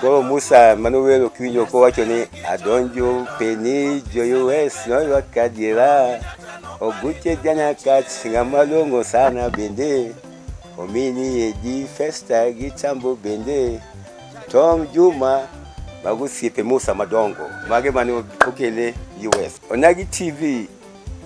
Koro Musa mane owero kiwinjo kowacho ni adonjo peni joyues noywa kadiera oguche jana kach ng'ama long'o sana bende omini edi festa gi chambo bende Tom Juma mago osiepe Musa madongo mage mane okele US. Onagi TV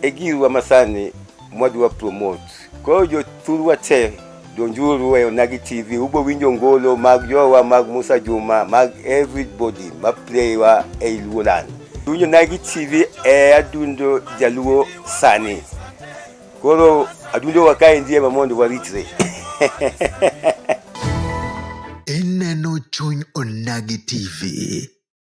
e girwa masani mwadwa promote. Koro jothurwa te donjuru weyo nagi TV ubo winjo ngolo mag jowa mag Musa Juma mag everybody ma playwa e Luoland. Winjo nagi TV e adundo jaluo sani. Koro adundo wakae ndiye ma mondo waritre. Ineno chuny onagi TV.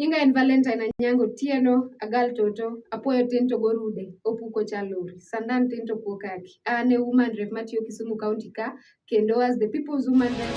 Nyinga en Valentine Anyango Tieno, agal toto, apuoyo tin to gorude, opuko chalori, sandan tin to kuo kaki. An e woman rep matiyo Kisumu County ka, kendo as the people's woman rep.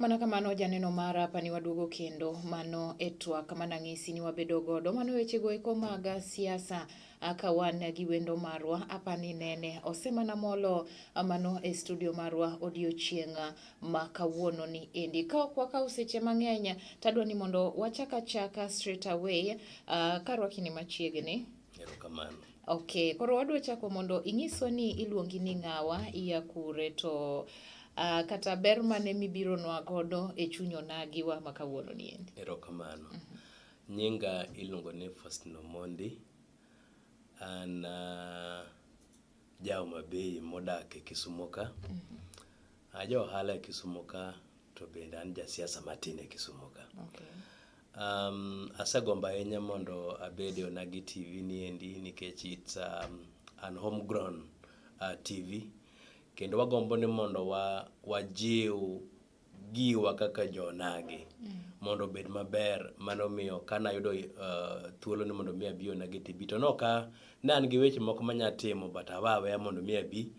Mana kamano janeno mara apa ni waduogo kendo mano e twak mana ng'isi ni wabedo godo mano wechego eko mag siasa ka wan gi wendo marwa apa ni nene osemana molo mano e studio marwa odiochieng' ma kawuono ni endi ka ok wakaw seche mang'eny tadwa ni mondo wachaka chaka straight away uh, karwakini machiegni Erokamano. Okay, koro wadwa chako mondo inyiswa ni iluongi ni ng'awa, iya kure to uh, kata ber mane mibiro nwa godo e chuny onagi wa ma kawuono ni endi. Erokamano. Mm -hmm. Nyinga iluongo ni Faustino Mondi. An uh, Ja Homa Bay modak e Kisumo ka. Ah, Ja ohala e Kisumo ka to bende an ja siasa matin e Kisumo ka. Okay. Um, asegombo ahinya mondo abed e Onagi TV ni endi nikech it's um, an homegrown uh, TV kendo wagombo ni mondo wa, wajiw giwa kaka jonagi mondo obed maber mano miyo ka nayudo uh, thuolo ni mondo mi abi onagi tibi to noka ne an gi weche moko manya timo but awa aweya mondo mi abi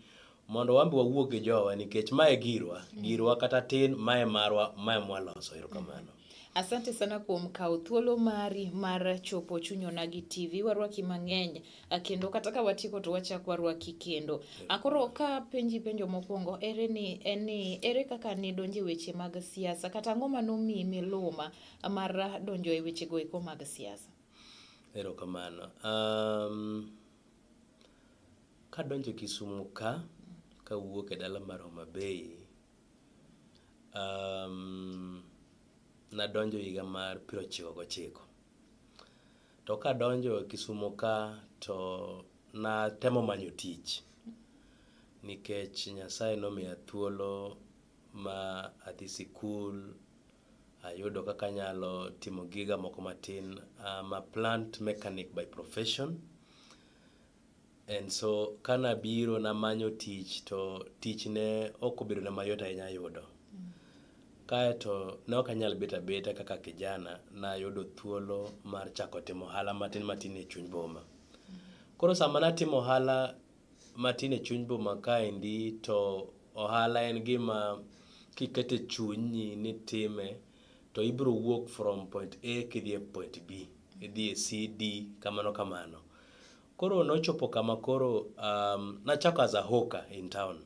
mondo wambi wawuog gi jowa nikech mae girwa girwa kata tin mae marwa mae mwaloso erokamano Asante sana kuom kawo thuolo mari mar chopo chuny onagi TV. Warwaki mang'eny kendo kata ka watieko to wachak warwaki kendo. Akoro ka penji penjo mokwongo ere ni en ni ere kaka ne donje weche mag siasa kata ang'o ma nomiyi miluma mar donjo e weche go eko mag siasa? Erokamano. Um, kadonjo Kisumu ka kawuok e dala mar Homa Bay Um, nadonjo higa mar piero ochiko gochiko to kadonjo e Kisumo ka to natemo manyo tich nikech Nyasaye nomiya thuolo ma adhi sikul ayudo kaka anyalo timo giga moko matin. I'm a plant mechanic by profession. And so kana biro namanyo tich to tich ne ok obedo na mayot ahinya yudo. Kaeto ne ok anyal bet abeta kaka kijana, nayudo thuolo mar chako timo ohala matin matin e chuny boma. Koro sama natimo ohala matin e chuny boma kaendi to ohala en gima kikete chunyi ni time to ibiro wuok from point A kidhi e point B, idhi e C, D kamano kamano. Koro nochopo kama koro um, nachako as a hawker in town.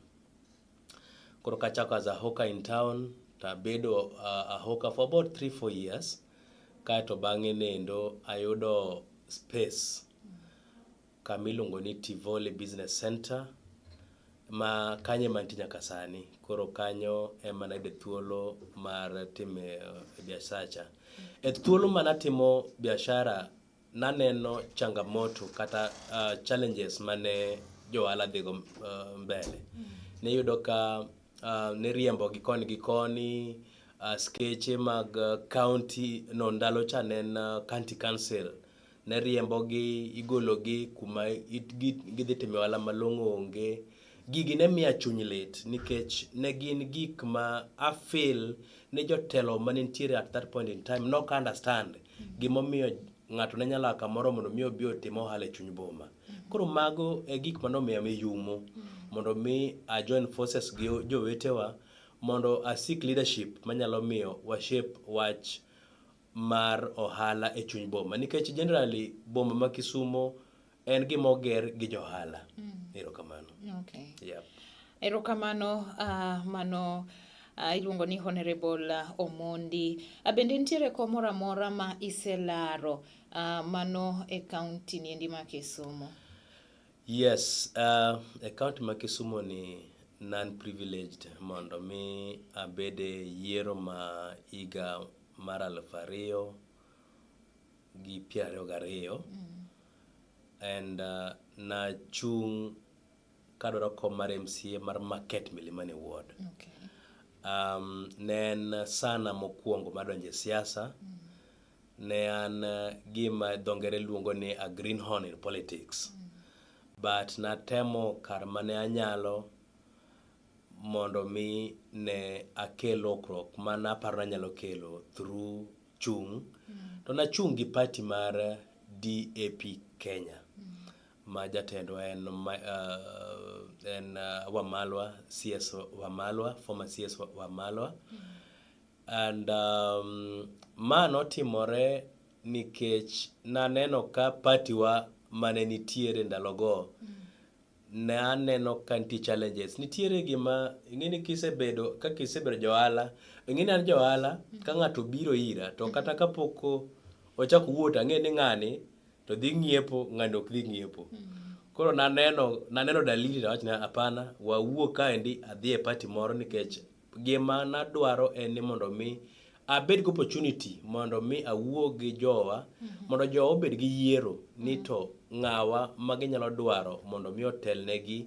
Koro kachako as a hawker in town tabedo uh, a hawker for about 3 4 years kaeto bang'e nendo ayudo space kama iluongo ni Tivoli Business Center ma kanyo ema nitie nyaka sani. Koro kanyo ema nayude thuolo mar time uh, biasacha. E thuolo manatimo biashara Naneno changamoto kata uh, challenges mane johala dhigo uh, mbele. Mm. Niyudo ka uh, niriembo gi koni gi koni uh, skeche mag uh, county no ndalo cha ne en uh, county council ne riembogi igologi kuma gidhi timo ohala malong'o onge gigi ne miya chuny lit nikech ne gin gik ma afil ni jotelo ma ne nitiere at that point in time nok understand gimomiyo ng'ato ne nyalo kamoro mondo mi obi otim ohala e chuny boma koro mago e gik mane omiyo miyumo mondo mi a join forces gi jowetewa mondo a seek leadership manyalo miyo wa shape wach mar ohala e chuny boma nikech generally boma ma Kisumo en gima oger gi johala mm. erokamano okay. yep. erokamano uh, mano uh, iluongo ni honorable uh, omondi uh, bende nitiere kom moro amora ma iselaro uh, mano e kaunti niendi ma kisumu yes uh, e kaunti ma kisumu ni non privileged mondo mi abede yiero ma higa mar aluf ariyo gi piero ariyo gariyo and uh, nachung' kadwaro kom mar MCA mar Market Milimani Ward. Okay. Um, ne en sana mokwongo madonjo e siasa ne an uh, gima dho ngere luongo ni a greenhorn in politics but natemo kar mane anyalo mondo mi ne akel lokruok ma naparo nanyalo kelo through chung', to nachung' gi party mar DAP Kenya ma jatendwa en ma- ah, en ah, Wamalwa, CS Wamalwa, former CS Wa- Wamalwa. And um, ma notimore nikech naneno ka partiwa mane nitiere ndalogo ne aneno ka nitie challenges nitiere gima ing'eni kisebedo ka kisebedo johala ing'eni an johala ka ng'ato biro ira to kata kapok ochako wuot ang'e ni ng'ani to dhi ng'iepo ng'ani ok dhi ng'iepo koro naneno naneno dalili nawach na hapana wawuo kaendi adhi e pati moro nikech Gima nadwaro en ni mondo mi abed gi opportunity mondo mi awuo gi jowa mhm. mondo jowa obed gi yiero ni mhm. to ng'awa ma ginyalo dwaro mondo mi otelnegi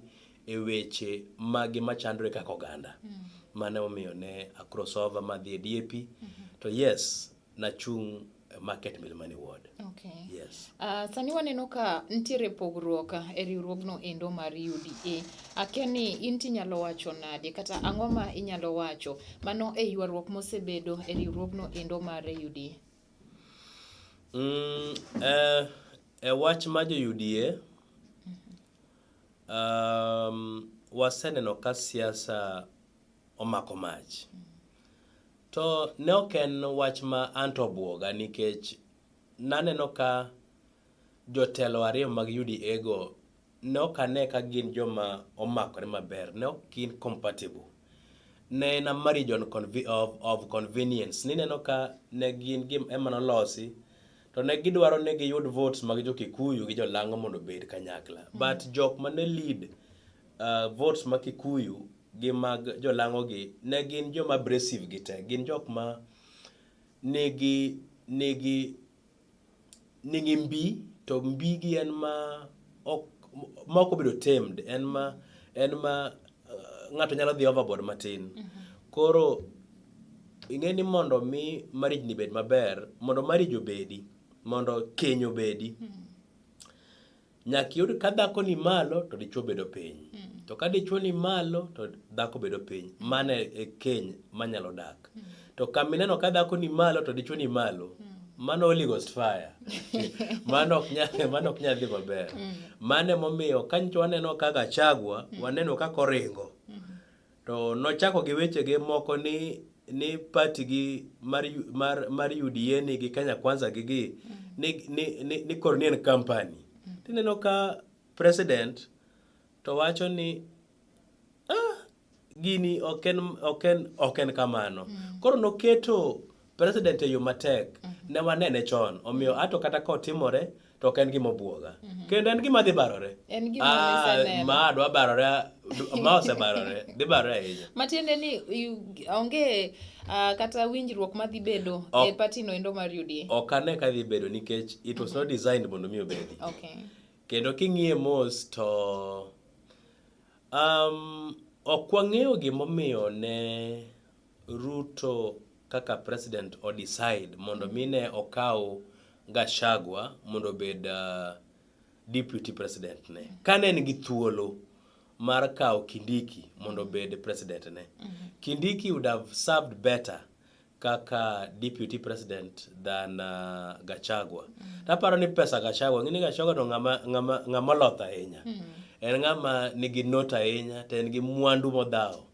e weche magi machandore kaka oganda. Mm. Mane omiyo ne a crossover madhi e DAP. Mm -hmm. To yes, Nachung' e market Milimani ward. Okay. Yes. Uh, sani waneno ka nitiere pogruok ah, e riwruogno endo mar UDA. Akia ni in tinyalo wacho nade kata ang'o ma inyalo wacho mano e ywaruok mosebedo e riwruogno endo mar UDA? Mm, eh, e wach ma jo UDA um, waseneno ka siasa omako mach. To ne ok en wach ma anto obwoga nikech naneno ka jotelo ariyo mag UDA go ne ok ane ka gin joma omakore maber, ne ok gin compatible. Ne en a marriage on conve of, of convenience. Nineno ka ne gin gim ema nolosi to ne gidwaro ni giyud votes mag jo Kikuyu gi jo Lango mondo obed kanyakla. But jok ma ne lead uh, votes ma Kikuyu gi mag jolang'ogi ne gin joma abrasive gi te gin jok ma nigi nigi nigi mbi to mbi gi en ma ok ma ok obedo tamed en ma en ma uh, ng'ato nyalo dhi overboard matin mm-hmm. koro ing'e ni mondo mi marriage ni bed maber mondo marriage obedi mondo keny obedi mm-hmm. Nyaka yud ka dhako ni malo to dichwo bedo piny. Mm. To ka dichwo ni malo to dhako bedo piny. Mm. Mano e keny manyalo dak. Mm. To kamineno ka dhako ni malo to dichwo ni malo. Mm. Mano Holy Ghost fire. mano ok nyal mano ok nyal dhi maber. Mm. Mano emomiyo ka nyicho waneno kaka chagwa, mm. waneno kaka oringo. Mm. To nochako gi wechege moko ni ni pati gi mar mar mar UDA ni gi Kenya Kwanza gi gi ni ni ni, ni kor ni en company. Tineno ka president to wacho ni ah, gini ok en ok en ok en kamano. Koro noketo president e yo matek mm -hmm. ne wanene chon omiyo ato kata ka otimore to ok en gima obwoga mm -hmm. kendo en gima dhi barore ah, ma dwa barore ma osebarore dhi barore ahinya matiende ni onge uh, kata winjruok ma dhi bedo e party no endo mar UDA ok ane ka dhi bedo nikech it was mm -hmm. not designed mondo mi obedi okay. kendo king'iye mos to um, ok wang'eyo gimomiyo ne Ruto kaka president o decide mondo mi ne okaw Gachagua mondo obed uh, deputy president ne. Kane en gi thuolo mar kawo Kindiki mondo obed president ne. Mm-hmm. Kindiki would have served better kaka deputy president than uh, Gachagua. Mm-hmm. Taparo ni pesa Gachagua, ngini Gachagua no ngama ngama ngama loth ahinya. Mm-hmm. En ngama nigi note ahinya, to en gi mwandu modhawo.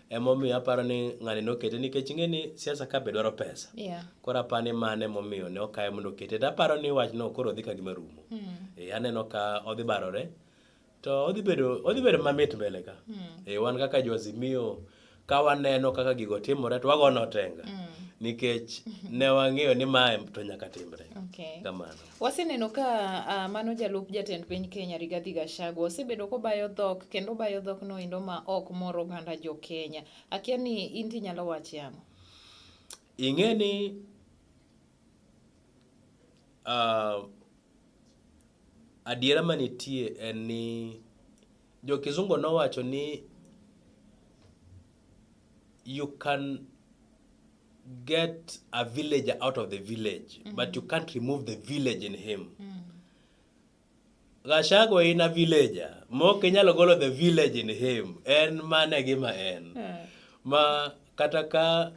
emomiyo aparo ni ng'ani nokete nikech ing'e ni siasa ka be dwaro pesa yeah. koro aparo ni mano emomiyo ne okaye mondo okete to aparo ni wachno koro odhi ka gima rumo mm. e, aneno ka odhi barore to odhi bedo odhi bedo mamit mbele ka mm. e, wan kaka joazimio ka waneno kaka gigo timore to wagono tenga mm. nikech ne wang'eyo ni mae to nyaka timre okay. kamano Waseneno ka uh, mano jalup jatend piny Kenya Rigathi Gachagua osebedo kobayo dhok kendo bayo dhok noendo ma ok mor oganda jo Kenya. Akia ni in tinyalo wacho ang'o? Ing'e ni uh, adiera manitie en ni jo kizungu nowacho ni you can get a villager out of the village mm -hmm. but you can't remove the village in him mm -hmm. Gachagua in a villager mok inyalo golo the village in him en mane gima en yeah. ma kata ka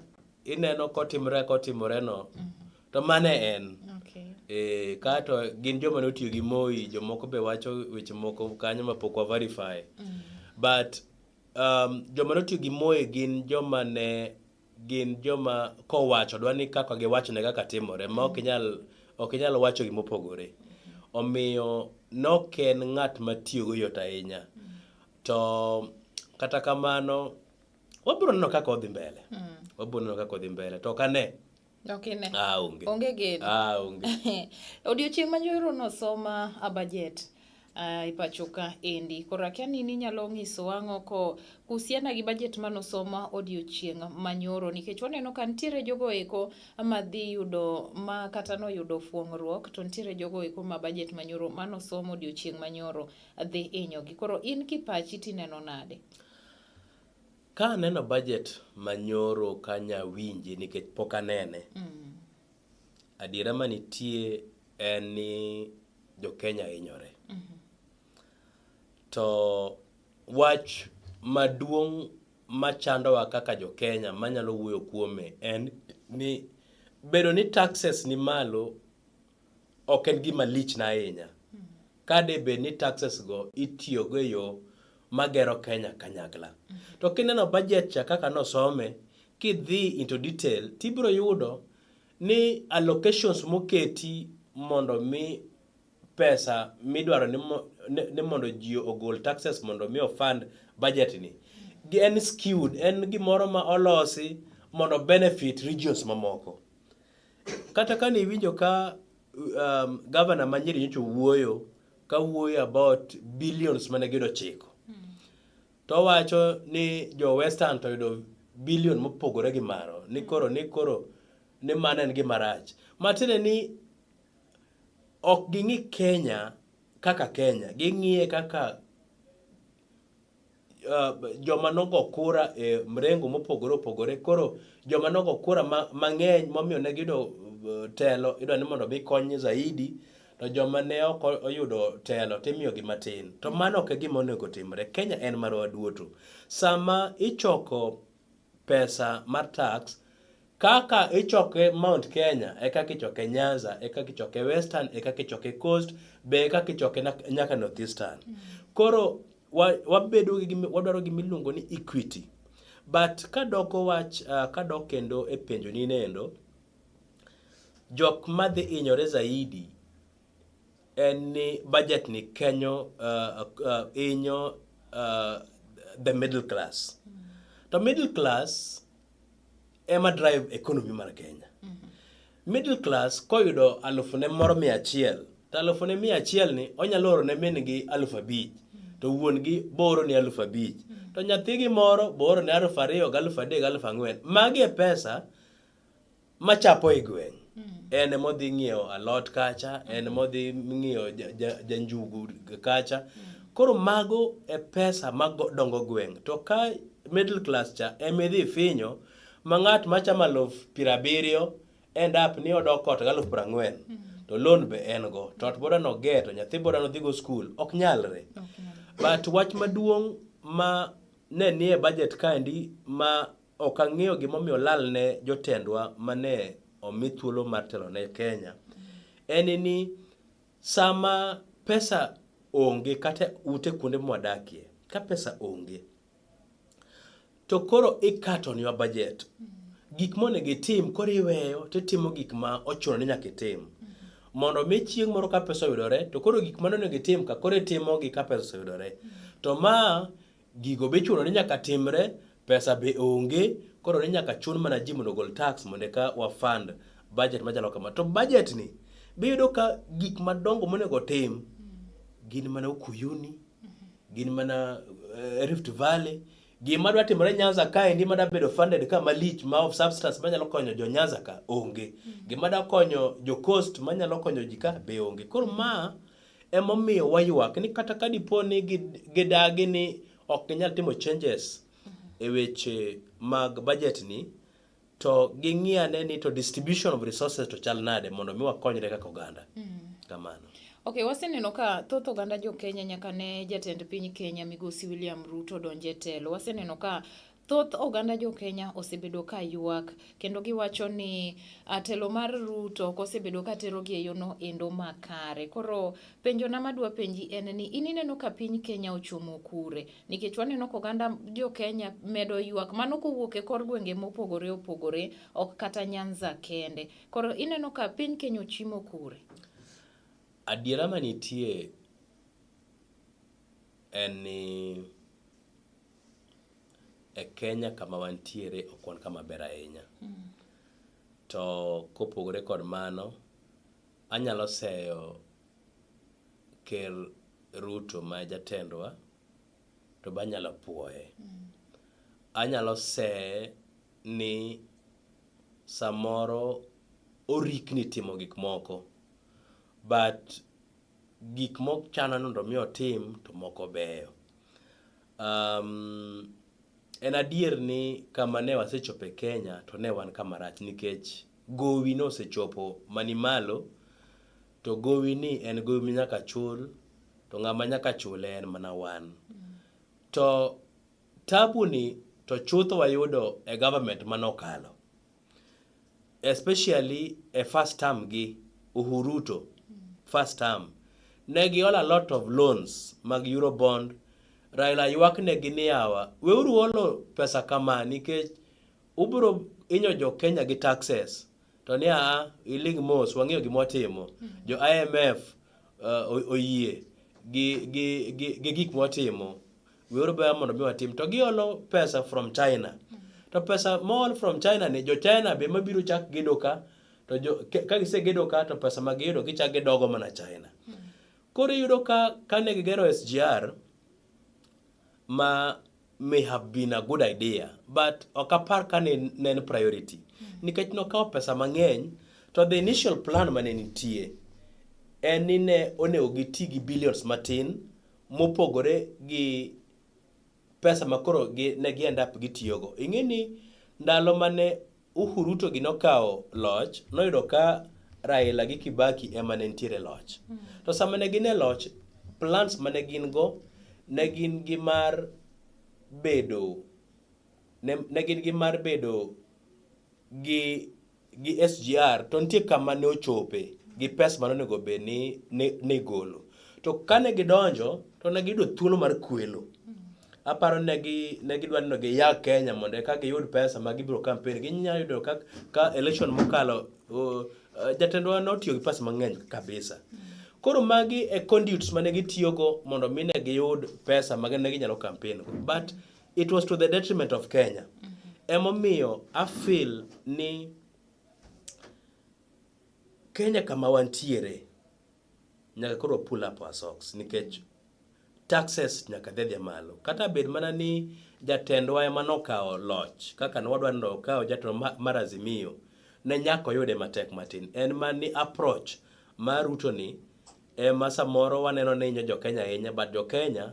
ineno kotimre kotimore no mm -hmm. to mane en okay. e, kato gin joma ne otiyo gi Moi jomoko be wacho weche moko kanyo ma pok wa verify mm -hmm. but um, joma ne otiyo gi Moi gin joma ne gin joma kowacho dwa ni kaka giwachone kaka timore ma ok inyal ok inyal wacho gima opogore omiyo nok en ng'at matiyogo yot ahinya to kata kamano wabiro neno kaka odhi mbele wabiro neno kaka odhi mbele to ok ane Ok ine. Ah, onge. Onge geno. Ah, onge. Odiochieng' ma nyoro nosoma a budget. Uh, e pacho ka endi koro akia ni ninyalo nyiso ang'o ko kuhusiana gi budget manosoma odiochieng' manyoro nikech waneno ka nitiere jogo eko madhi yudo ma kata noyudo fuong'ruok to nitiere jogo eko ma budget manyoro manosomo odiochieng' manyoro dhi inyogi koro in kipachi tineno nade Ka aneno budget manyoro ok anya winje nikech pok anene. Adiera manitie en ni jo Kenya hinyore. To wach maduong' machandowa kaka jo Kenya manyalo wuoyo kuome en ni bedo ni taxes ni malo ok en gima lichna ahinya. ka de bed ni taxes go itiyo go e yo magero Kenya kanyakla. To kineno budget cha kaka nosome, kidhi into detail, tibiro yudo ni allocations moketi mondo mi pesa midwaro ni, mo, ni, ni mondo ji ogol taxes mondo mi ofund budget ni en skewed, en gimoro ma olosi mondo benefit regions mamoko. Kata kane iwinjo ka um, governor ma Nyeri nyocha wuoyo ka wuoyo about billions mane giyudo chiko hmm. to wacho ni jo western to yudo billion mopogore gi maro ni hmm. koro ni koro ni mano en gima rach matiende ni ok ging'i Kenya kaka Kenya ging'iye kaka uh, joma nogo kura e uh, mrengo mopogore opogore koro joma nogo kura mang'eny ma momiyo ne giyudo uh, telo idwa ni mondo mikony zaidi to joma ne ok oyudo telo timiyogi matin to mano ok e gima onego timre kenya en marwa duoto sama ichoko pesa mar tax kaka ichoke Mount Kenya e kaka ichoke Nyanza e kaka ichoke Western e kaka ichoke Coast be e kaka ichoke nyaka North Eastern. Mm. Koro wabedo gi wadwaro gima iluongo ni equity. But kadoko wach uh, kadok kendo e penjo ni nendo jok madhi inyore zaidi en ni budget ni kenyo uh, uh, inyo uh, the middle class mm -hmm. to middle class ema drive economy mar Kenya mm -hmm. middle class koyudo alufu ne moro mia achiel to alufu ne mia achiel ni onyalo oro ne min gi alufu abich mm -hmm. to wuon gi booro ni alufu abich mm -hmm. to nyathi gi moro booro ni alufu ariyo gi alufu adek gi alufu ang'wen magi e pesa machapo e gweng' en modhi ng'iewo alot kacha en modhi ng'iewo janjugu kacha koro mago e pesa madongo gweng' to ka middle class cha emidhi finyo ma ng'at machamo aluf piero abiriyo end up ni odok ot galuf piero ang'wen to loan be en go to ot boda no ge to nyathi boda no dhigo skul ok nyalre but wach maduong' ma ne nie budget kaendi ma Ok ang'eyo gimomiyo olal ne jotendwa mane omi thuolo mar telo ne Kenya. En ni sama pesa onge kata ute kuonde mwadakie, ka pesa onge, to koro ikatonwa bajet. Gik monego itim koro iweyo titimo gik ma ochuno ni nyaka itim. Mondo mi chieng' moro ka pesa oyudore, to koro gik mane onego itim ka koro itimogi ka pesa oseyudore. To ma Gigo be chuno ni nyaka timre, pesa be onge, koro ni nyaka chun mana ji mondo ogol tax mondo eka wa fund budget machalo kama. To budget ni be yudo ka gik madongo monego tim gin mana Ukuyuni, gin mana eh, Rift Valley, gima dwa timore Nyanza ka endi ma bedo funded ka malich ma of substance manyalo konyo jo Nyanza ka onge. Gima da konyo jo coast manyalo konyo ji ka be onge. Koro ma Emomiyo waywak ni kata ka dipo ni gidagi ni ok ginyal timo changes e weche mag budget ni to ging'i ane ni to distribution of resources to chal nade mondo mi wakonyre kaka oganda. Mm-hmm. Kamano. Ok, waseneno ka thoth oganda jo Kenya nyaka ne jatend piny Kenya migosi William Ruto donje telo. Waseneno ka Thoth oganda jo Kenya osebedo ka ywak kendo giwacho ni ah, telo mar Ruto ok osebedo ka terogi e yono endo makare. Koro penjona madwa penji en ni in ineno ka piny Kenya ochomo kure? Nikech waneno ka oganda jo Kenya medo ywak mano kowuok e kor gwenge mopogore opogore ok kata Nyanza kende. Koro ineno ka piny Kenya ochimo kure? Adiera manitie en ni E Kenya kama wantiere ok wan kama ber ahinya. To kopogore kod mano, anyalo seyo ker Ruto ma jatendwa to be anyalo puoye. Anyalo seye ni samoro orikni timo gik moko but gik mok chana nondo mi otim to moko beyo. Um, en adier ni kama ne wasechope Kenya to ne wan kama rach nikech gowi no osechopo mani malo to gowi ni en gowi minyaka chul to ng'ama nyaka chule en mana wan. To tabu ni to chutho wayudo e government manokalo. especially a first term gi Uhuruto first term ne giol a lot of loans mag Eurobond Raila ywak ne gi niyawa weuru olo pesa kama nikech ubro inyo jo Kenya gi taxes to ni a iling mos wang'eyo gima watimo jo IMF uh, oyie gi gi gi gik mwatimo Weuru baya mondo mi watim to giolo pesa from China. To pesa mool from China ni jo China be mabiro chak gedo ka to jo ka gise gedo ka to pesa ma giyudo gichak gidogo mana China. Koro iyudo ka kane gigero SGR ma may have been a good idea but ok apar ka ne en priority nikech nokawo pesa mang'eny to the initial plan mane nitie en ni ne onego giti gi billions matin mopogore gi pesa ma koro ne gi end up gitiyogo. Ing'e ni ndalo mane Uhuru to gi nokawo loch, noyudo ka Raila gi Kibaki ema ne nitiere loch. Hmm. To sama ne gin e loch, plans mane gin go ne gin gi mar bedo ne gin gi mar bedo gi gi SGR to nitie kama ne ochope gi pes mane onego bed ni ne igolo. To kane gidonjo to ne giyudo thuolo mar kwelo. Aparo ne gi ne gidwa ni giya Kenya mondo eka giyud pesa ma gibiro kampen. Ginya yudo ka ka election mokalo jatendwa ne otiyo gi pesa mang'eny kabisa. Koro magi e conduits mane gitiyogo mondo mi ne giyud pesa ma ne ginyalo kampen go. But it was to the detriment of Kenya. Mm -hmm. Emomiyo I feel ni Kenya kama wantiere nyaka koro pull up our socks nikech taxes nyaka dhedhia malo kata bed mana ni jatendwa ema nokawo loch kaka nwadwa ni okawo jatelo mar Azimio ne nyaka oyude matek matin en ma ni approach mar Ruto ni ema samoro waneno ni inyo jo Kenya ahinya but jo Kenya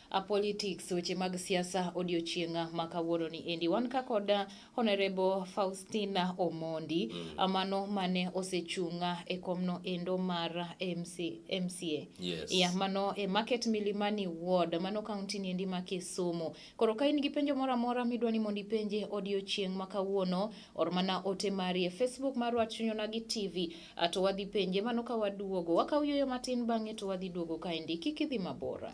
A politics weche mag siasa odiochienga ma kawuono ni endi wan ka kod uh, honorable Faustina Omondi mm. Uh, mano mane osechunga e komno endo mar uh, MC, MCA yes. ya mano e market Milimani ward mano county ni endi ma Kisumu koro ka in gi penjo moro amora midwa ni mondo ipenje odiochieng ma kawuono or mana ote mari e Facebook mar Wachunyona gi TV to wadhi penje mano ka waduogo wakaw yoyo matin bang'e to wadhi duogo kaendi kik idhi mabora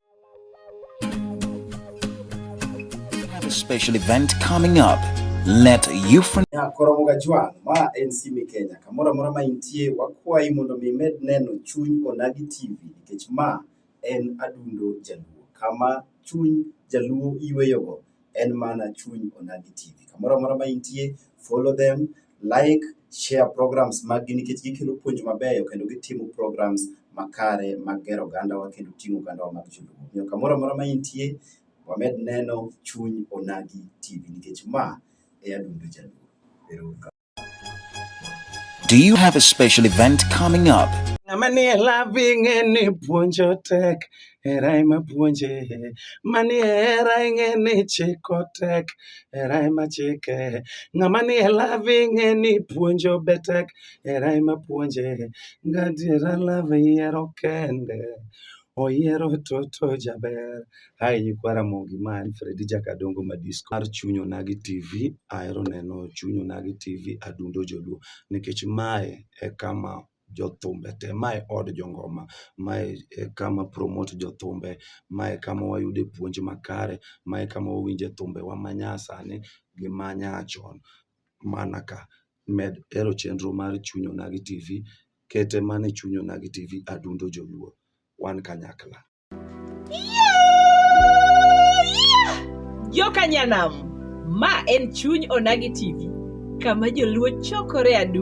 Have a special event coming up. Let you friend ya koromo ga jwang ma en sime Kenya kamoro amora ma intie wakwayi mondo mi med neno chuny onagi TV nikech ma en adundo jaluo kama chuny jaluo iweyogo en mana chuny Onagi TV. Kamoro amora ma intie, follow them, like, share programs maggi nikech gikelo puonj mabeyo kendo gitimo programs makare mag gero ogandawa kendo ting'o ogandawa mag joluo. Omiyo kamoro amora ma intie, wamed neno chuny Onagi TV nikech ma e adundo jaluo. Ero uru kamano. Do you have a special event coming up? Manie loving ni puonjo tek era ema puonje manie era ing'e ni chiko tek era ema chike ng'ama ni e love ing'e ni puonjo be tek era ema puonje ngadiera love yiero kende Oyiero toto jaber. Hi nyikwa Ramogi ma en Fredi Jakadongo ma disco mar Chuny Onagi TV. Ahero neno Chuny Onagi TV adundo joluo nikech mae e kama jothumbe te, mae od jongoma, mae e kama promote jothumbe, mae e kama wayude puonj makare, mae e kama wawinje thumbewa manyasani gi manyachon mana ka. med hero chenro mar chuny onagi tv kete mane chuny onagi tv adundo joluo wan kanyakla joka nyanam ma en chuny onagi tv kama joluo chokore adu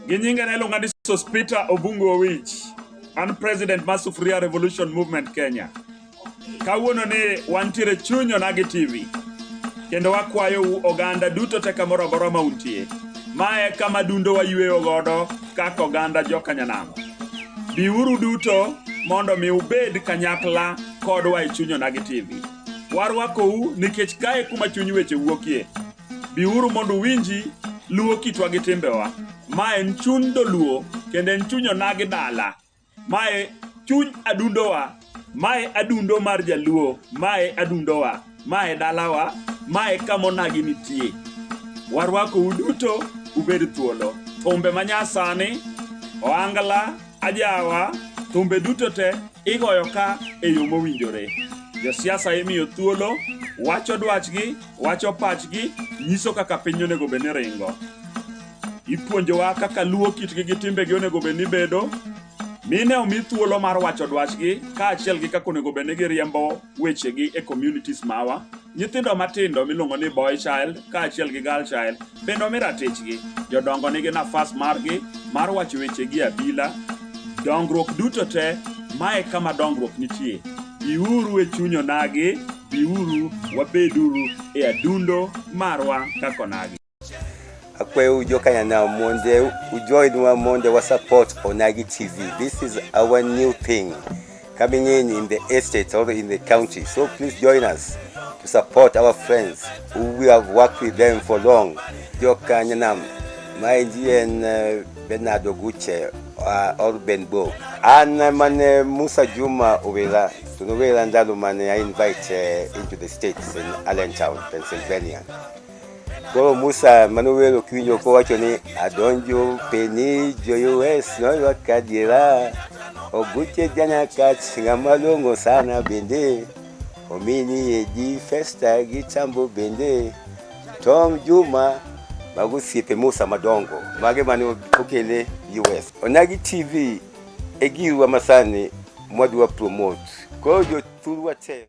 gi nyinge ne iluonga ni sospita obungu owich an president mar sufuria revolution movement kenya kawuono ni wantiere chuny onagi tv kendo wakwayou oganda duto te kamoro amora ma untie ma e kama dundo wayweyo godo kaka oganda jokanyanamo biuru duto mondo mi ubed kanyakla kodwa e chuny onagi tv warwakou nikech kae kuma chuny weche wuokie biuru mondo uwinji luwo kitwa gi timbewa ma en chuny doluo kendo en chuny onagi dala mae chuny adundowa mae adundo mar jaluo mae adundowa mae dalawa mae kamonagi nitie warwako uduto ubed thuolo thumbe manyasani oangla ajawa thumbe duto te igoyo ka e yo mowinjore josiasa imiyo thuolo wacho dwachgi wacho pachgi nyiso kaka piny onego bed ni ringo Ipuonjowa kaka luwo kitgi gi timbegi onego bed ni bedo, mine omi thuolo mar wacho dwachgi kaachiel gi kaka onego bed ni giriembo wechegi e communities mawa. Nyithindo matindo miluongo ni boy child kaachiel gi girl child bende omi ratichgi. Jodongo nigi nafas margi mar wacho wechegi e abila. Dongruok duto te, mae kama dongruok nitie. Biuru e chuny onagi, biuru wabeduru e adundo marwa kaka onagi. akwe ujokanya na monde ujoin wa monde wa support onagi tv this is our new thing coming in in the estate or in the county so please join us to support our friends who we have worked with them for long jokanya nam my and uh, bernardo guche uh, or benbo and uh, mane musa juma ubela tunubela ndalu mane i invite uh, into the states in allentown pennsylvania Koro Musa mane owero kiwinjo kowacho ni adonjo peni joyues noywa kadiera oguche janakat ng'ama long'o sana bende omini edi festa gi tambo bende Tom Juma mago osiepe Musa madongo mage mane okele US. Onagi TV e girwa masani mwadwa promote koro jothurwa te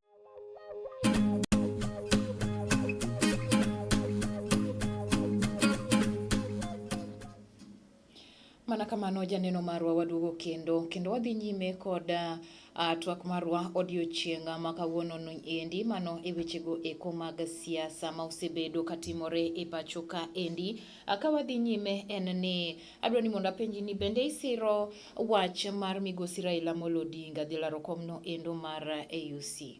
Mana kamano janeno marwa waduogo kendo kendo wadhi nyime kod uh, twak marwa odiochieng' ma kawuono endi mano e wechego eko mag siasa ma osebedo katimore e pacho ka endi. Uh, ka wadhi nyime en ni Adwa ni mondo apenji ni bende isiro wach mar migosi Raila Amolo Odinga dhi laro komno endo mar AUC?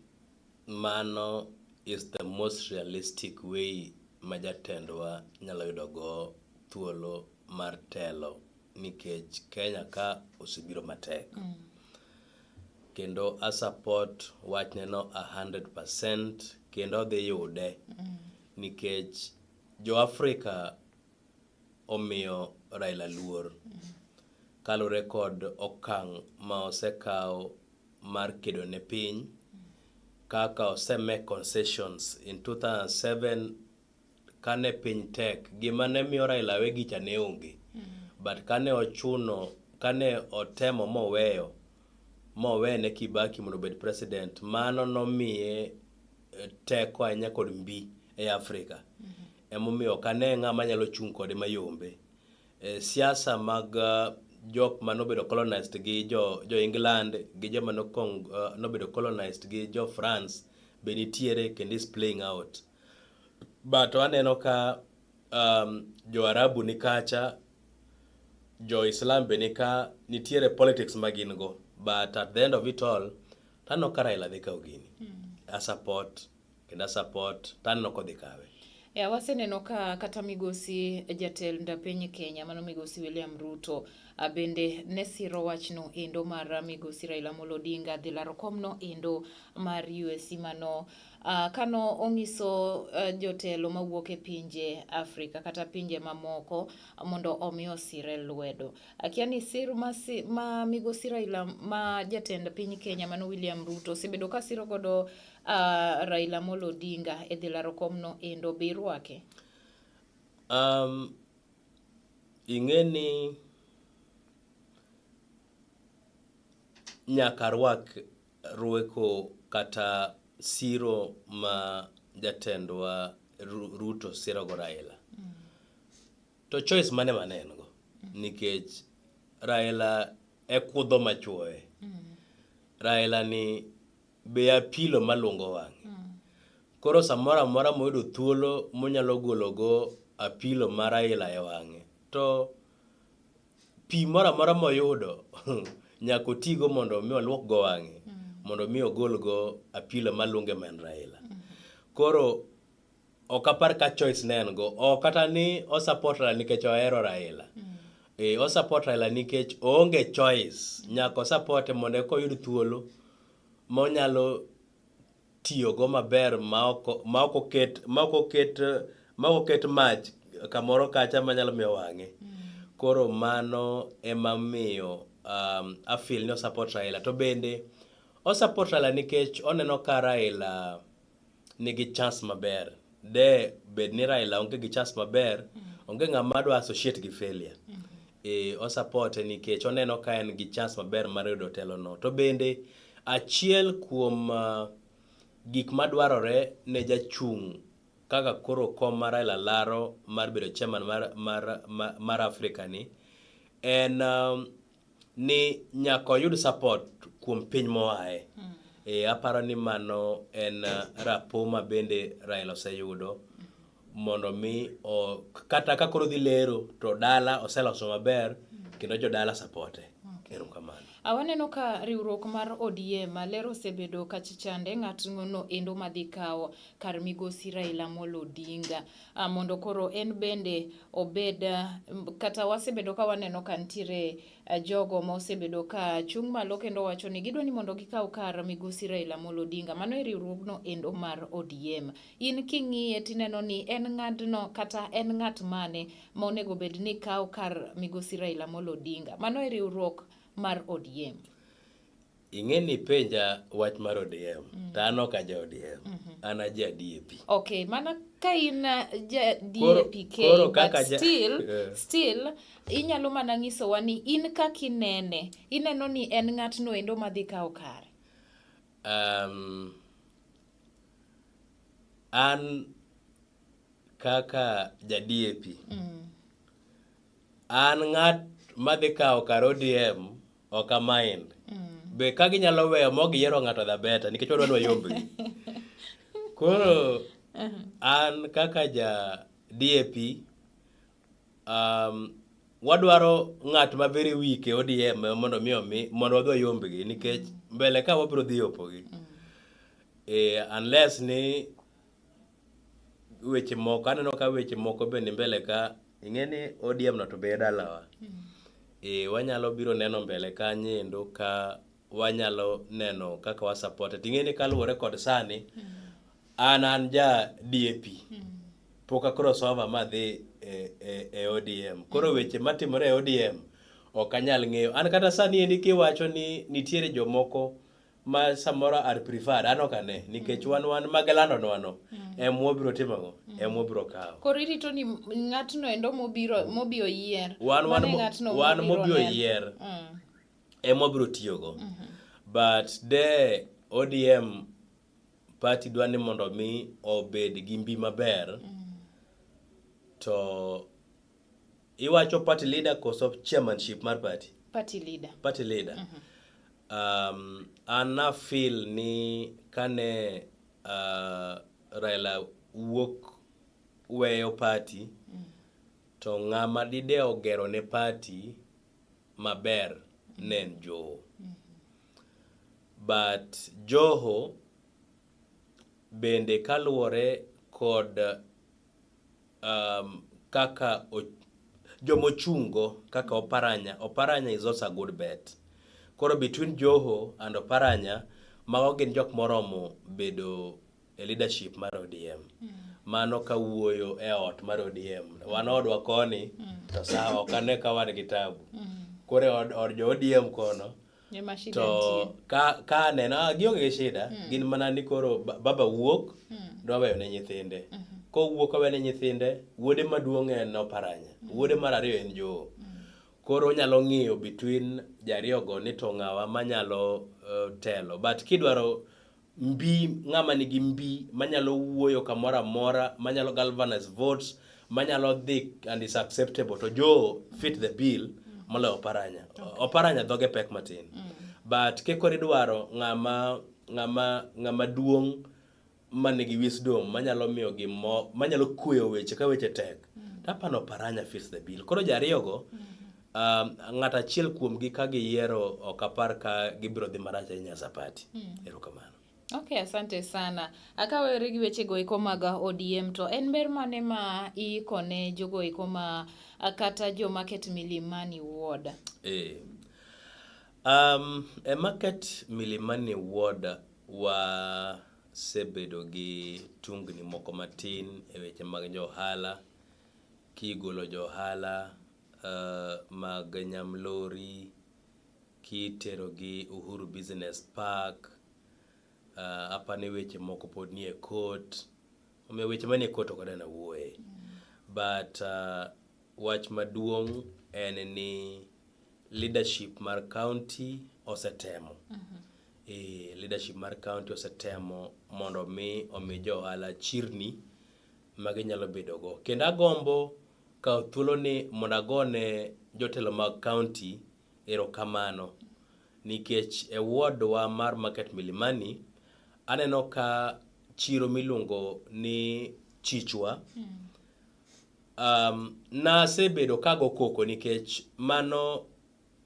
Mano is the most realistic way ma jatendwa nyalo yudo go thuolo mar telo nikech Kenya ka osebiro matek. Mm. Kendo a support wachneno 100% kendo odhi yude mm. nikech jo Afrika omiyo Raila luor kalure kod okang' ma osekaw mar kedo ne piny kaka oseme concessions in 2007 kane piny tek gima ne miyo Raila we gicha ne onge but kane ochuno kane otemo moweyo mowene Kibaki mondo obed president, mano nomiye eh, teko ahinya kod mbi e Afrika. Mm -hmm. Emomiyo ok ane ng'ama nyalo chung' kode mayombe. E, siasa mag eh, jok ma nobedo colonized gi jo, jo England gi joma nokong, uh, nobedo colonized gi jo France be nitiere kendo is playing out. But aneno ka um, jo Arabu ni kacha jo Islam be nika nitiere politics ma gin go but at the end of it all taneno ka Raila dhi kawo gini mm. a support kendo a support taneno kodhi kawe E, waseneno ka kata migosi jatend piny Kenya mano migosi William Ruto bende ne siro wachno endo mar migosi Raila Amolo Odinga dhi laro komno endo mar USC mano Uh, kano onyiso uh, jotelo mawuok e pinje Afrika kata pinje mamoko mondo omi osire lwedo. Akia ni sir ma, si, ma migosi Raila ma jatend piny Kenya mano William Ruto osebedo ka siro godo uh, Raila Amolo Odinga e dhi laro komno endo be irwake? Um, ing'e ni nyaka rwak Rueko kata siro ma jatendwa Ruto sirogo Raila. Mm. To choice mane mane en go? Mm. Nikech Raila e kudho machuoye. Mm. Raila ni be apilo malungo wang'e. Mm. Koro samoro amora moyudo thuolo monyalo gologo apilo ma Raila e wang'e to Pi moro amora moyudo nyaka otigo mondo mi olwok go wang'e mm. mondo mi ogol go apilo malunge men Raila. Mm. Koro ok apar ka choice ne en go ok kata ni osapot Raila nikech ohero Raila. Mm. E, osapot Raila nikech oonge choice nyaka osapote mondo eka oyud thuolo monyalo tiyogo maber maok oket maok oket maok oket mach kamoro kacha manyalo miyo wang'e. Mm. Koro mano ema miyo um, afil ni osapot Raila to bende osapot Raila nikech oneno ka Raila nigi chance maber de bed ni Raila onge gi chance maber, onge ng'ama dwa associate gi failure. Eh, osupporte nikech oneno ka en gi chance maber mar yudo telono. To bende achiel kuom ah, gik madwarore ne jachung' kaka koro kom mar Raila laro mar bedo chairman mar, mar, mar, mar Africa ni en um, ni nyaka oyud support kuom piny moae. Mm. E, aparo ni mano en uh, rapo ma bende Raila oseyudo mondo mi o, kata ka koro dhi lero to dala oseloso maber kendo jodala sapote. Okay. Erokamano. Awaneno ka riwruok mar ODM ler osebedo kachichande ng'atno endo madhi kawo kar migosi Raila Amolo Odinga. uh, mondo koro en bende obed uh, kata wasebedo ka waneno ka nitiere uh, jogo ma osebedo ka chung' malo kendo wacho ni gidwa ni mondo gikaw kar migosi Raila Amolo Odinga mano e riwruogno endo mar ODM. In king'iye tineno ni en ng'adno kata en ng'at mane ma onego bed ni kaw kar migosi Raila Amolo Odinga mano e riwruok mar ODM. ing'e ni penja wach mar ODM mm. to an ok aja ODM mm -hmm. an aja DAP okay mana ka in uh, ja DAP koro, koro but still yeah. still inyalo mana nyisowa ni in kaka inene ineno ni en ng'atno endo madhi kawo kare um, an kaka ja DAP mm. an ng'at madhi kawo kar ODM ok amain mm. be ka ginyalo weyo ma giyiero ng'ato dha beta nikech wadwa ni wayombgi koro uh-huh. an kaka ja DAP um, wadwaro ng'at ma very weak e ODM mondo mi omi mondo wadwa yombgi nikech mm. mbele ka wabiro dhi opogi mm. eh, unless ni weche moko aneno ka weche moko be ni mbele ka ing'e ni ODM no to be e dalawa mm. e, wanyalo biro neno mbele kanyo endo ka wanyalo neno kaka wa support ting'e ni kaluwore kod sani mm. an an ja DAP mm. pok akoro sova ma dhi e, e, e ODM koro mm. weche matimore e ODM ok anyal ng'eyo an kata sani endi kiwacho ni nitiere jomoko ma samoro are preferred an ok ane nikech wan wan mag landonwano em wabiro timogo em wabiro kawo Koro irito ni ng'atno endo mobiro mobi oyier. wan wan Mano e mo- ng'atno wan mobiro mobi neno. oyier Mm. em wabiro tiyogo but de odm party dwa ni mondo mi obed gi mbi maber to Iwacho party leader koso chairmanship mar party? Party leader. Party leader. Mm -hmm. Um, ana feel ni kane uh, Raila wuok weyo party mm -hmm. to ng'ama dide ogero ne party maber mm -hmm. ne en Joho. Mm -hmm. But Joho bende kaluwore kod um, kaka jomochungo kaka Oparanya. Oparanya is also a good bet. Koro between Joho and Oparanya, mago gin jok moromo bedo e leadership mar ODM. Mm. Mano ka wuoyo e ot mar ODM. Wan odwa koni, mm. to sawa, ok ane ka wan gi tabu. Mm. Koro e od, od jo ODM kono, to ka ka neno ah, gionge gi shida mm. gin mana ni koro baba wuok mm. dwa weyo ne nyithinde mm -hmm. ko wuok awe ne nyithinde wuode maduong' en oparanya mm. wuode mar ariyo en joo mm. koro onyalo ng'iyo between jariyogo ni to ng'awa manyalo uh, telo but kidwaro mbi ng'ama nigi mbi manyalo wuoyo kamoro amora manyalo galvanize votes manyalo dhi and is acceptable to jo fit the bill moloyo oparanya oparanya dhoge pek matin mm. but kekor idwaro ng'ama ng'ama ng'ama duong' ma nigi wisdom manyalo miyo gimo manyalo kueyo weche ka weche tek mm. tapano oparanya fits the bill koro jariyogo mm. Um, ng'ato achiel kuomgi ka giyiero ok apar ka gibiro dhi marach ahinya sapati. Hmm. Erokamano. Okay, asante sana. Akawere gi weche go eko mag ODM to en ber mane ma iiko ne jogo eko ma kata jo market Milimani ward? Eh. Um, e market Milimani ward wa sebedo gi tungni moko matin e weche mag johala kigolo johala mag Nyamlori kiterogi Uhuru Business Park, apa ni weche moko pod nie court. Omiyo weche manie court ok adwar ni awuoye. But wach maduong' en ni leadership mar kaonti osetemo. Ee, leadership mar kaonti osetemo mondo mi omi jo ohala chirni ma ginyalo bedogo. Kendo agombo kawo thuoloni mondo agone jotelo mag kaonti erokamano nikech e wodwa mar Market Milimani, aneno ka chiro miluongo ni Chichwa um, nasebedo kago koko nikech mano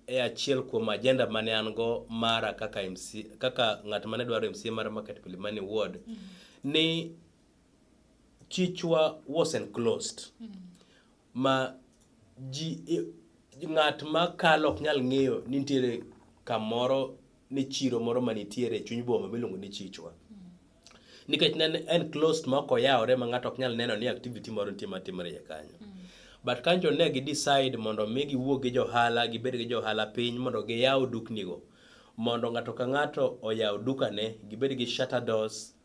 e achiel kuom ajenda mane an go mara kaka, MC, kaka ng'at mane dwaro MCA mar Market Milimani Ward mm -hmm. ni chichwa was enclosed mm. ma ji ng'at ma kalo ok nyal ng'eyo ni nitiere kamoro ni chiro moro ma nitiere e chuny boma miluongo ni chichwa mm. nikech ne en closed ma ok oyawore ma ng'ato ok nyal neno ni activity moro nitie ma timore iye kanyo mm. but kanjo ne gi decide mondo mi giwuog gi johala gibed gi johala piny mondo giyaw duknigo mondo ng'ato ka ng'ato oyaw dukane gibed gi shutter doors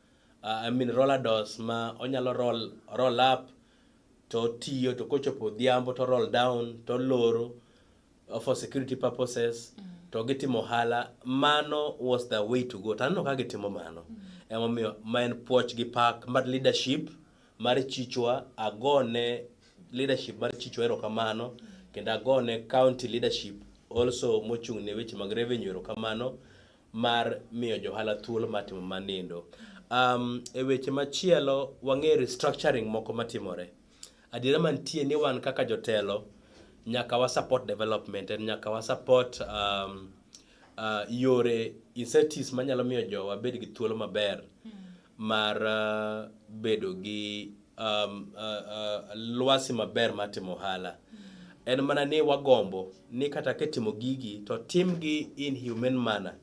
uh, I mean roller doors ma onyalo roll, roll up to tiyo to kochopo odhiambo to roll down to loro uh, for security purposes mm. to gitimo ohala mano was the way to go taneno ka gitimo mano mm. emomiyo ma en puoch gi pak mar leadership mar chichwa agone leadership mar chichwa erokamano mm. kendo agone county leadership also mochung' ne weche mag revenue erokamano mar miyo johala thuolo mar timo mar nindo. Um, e weche machielo wang'e restructuring moko matimore. Adiera mantie ni wan kaka jotelo nyaka wa support development and nyaka wa support um, uh, yore incentives manyalo miyo jowa bed gi thuolo maber mar uh, bedo gi um, uh, uh, lwasi maber mar timo ohala en mana ni wagombo ni kata kitimo gigi to timgi in human manner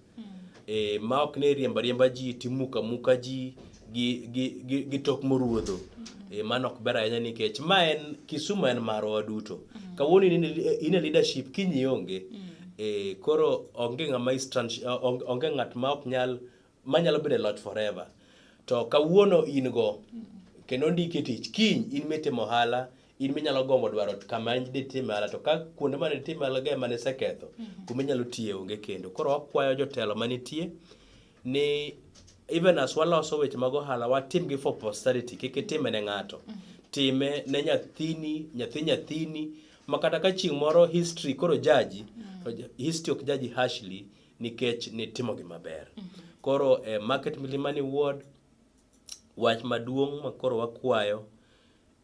e, ma ok ni riemba riemba ji timuka muka ji gi, gi, gi, gi tok moruodho e, mano ok ber ahinya nikech ma en kisumu en marwa waduto kawuono in e- in e leadership kiny ionge e, koro onge ng'ama is trans- onge ng'at ma ok nyal manyalo bedo e loch forever to kawuono in go kendo ndiki tich kiny in mitimo ohala in minyalo gombo dwaro kama ditime ohala to ka kuonde mane ditime ohala ga mane iseketho mhm. kuma inyalo tiye onge kendo koro wakwayo jotelo manitie ni even as waloso weche mag ohala watimgi for posterity kik itime ne ng'ato mhm. time ne nyathini nyathi nyathini makata ka chieng' moro history koro jaji mhm. history ok jaji harshly nikech nitimogi maber. Koro e Market Milimani Ward, wach maduong' ma koro wakwayo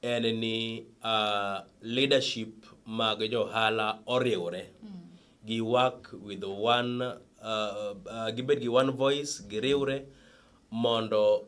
en ni uh, leadership mag johala oriwre gi work with one uh, uh, gibed gi one voice giriwre mondo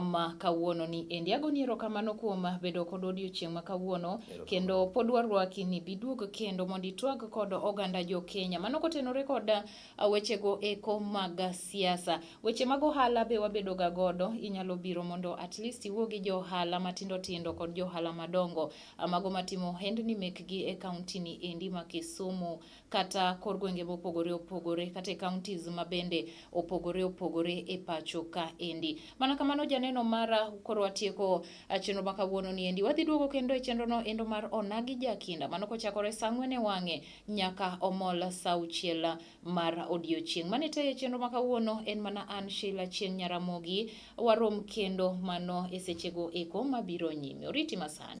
ma kawuono ni endi agoni erokamano kuom bedo kod odiochieng' ma kawuono kendo pod warwaki ni biduog kendo mondo itwag kod oganda jo Kenya mano kotenore kod uh, wechego eko mag siasa weche mag ohala be wabedo ga godo inyalo biro mondo at least iwuo gi jo ohala matindo tindo kod jo ohala madongo uh, mago matimo ohendni mekgi e kaunti ni endi ma Kisumu kata kor gwenge mopogore opogore kata e counties ma bende opogore opogore e pacho ka endi. Mana kamano janeno mara koro watieko ah, chenro ma kawuono ni endi. Wadhi duogo kendo e chenro no endo mar Onagi Jakinda. Mano kochakore sa ang'wen e wang'e nyaka omol sa auchiel mar odiochieng'. Mane tayo e chenro ma kawuono en mana an Sheila Chieng' Nyaramogi. Warom kendo mano e sechego eko mabiro nyime. Oriti masani.